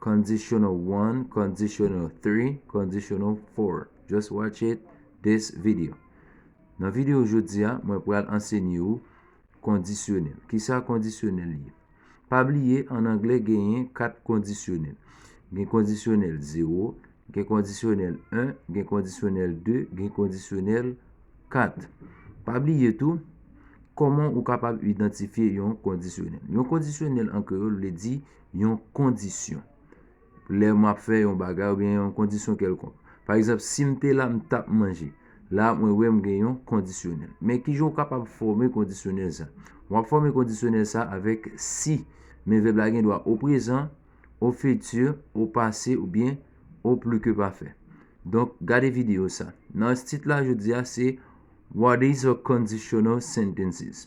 Conditional one, conditional three, conditional four Just watch it this video Nan video jodi a, mwen pral ansenye ou kondisyonèl. Kisa kondisyonèl ye? Pa bliye, an anglè genyen 4 kondisyonèl. Gen kondisyonèl 0, gen kondisyonèl 1, gen kondisyonèl 2, gen kondisyonèl 4. Pa bliye tou, koman ou kapab idantifye yon kondisyonèl. Yon kondisyonèl an kreyòl vle di yon kondisyon. Lè m ap fè yon bagay ou byen yon kondisyon kèlkonk. Pa egzanp, si m te la, m t ap manje. La a, mwen wè m gen yon kondisyonèl. Men ki jan ou kapab fòme kondisyonèl sa? W ap fòme kondisyonèl sa avèk si. Men vèb la gendwa o prezan, o fiti, o pase ou byen o pli ke pafè. Donk, gade videyo sa. Nan tit la jodi a se What is a conditional sentences?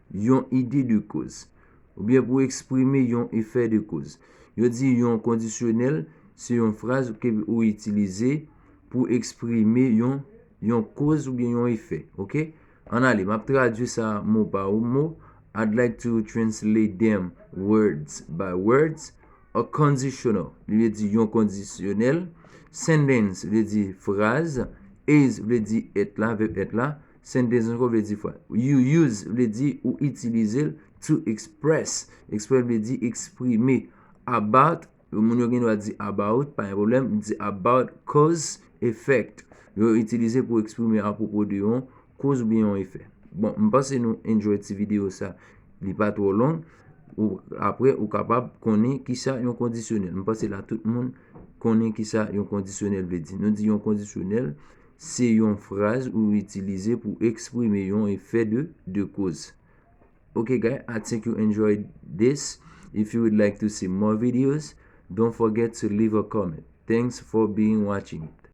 Yon ide de koz. Oubyen pou eksprime yon efè de koz. Yo di yon kondisyonèl se yon fraz ke ou itilize pou eksprime yon yon koz oubyen yon efè. Ok? Ann ale, m ap tradui sa mo pa mo, I'd like to translate them words by words, A conditional li vle di yon kondisyonèl, sentence vle di fraz, is vle di èt la, vèb èt la, Sen Dezenko vle di fwa. You use vle di ou itilize l. To express, eksprè vle di eksprime. About, moun yo gen dwa di about, pa gen pwoblèm, di about cause, effect. Yo itilize pou eksprime apwopo de yon koz oubyen yon efè. Bon, m panse nou enjoy ti videyo sa. Li pa twò long. Apre, ou kapab konnen ki sa yon kondisyonèl. M panse la tout moun konnen ki sa yon kondisyonèl vle di. Nou di yon kondisyonèl. Se yon fraz ou itilize pou eksprime yon efè de 2 koz. Ok guy I think you enjoyed this if you would like to see more videos don't forget to leave a comment thanks for being watching it.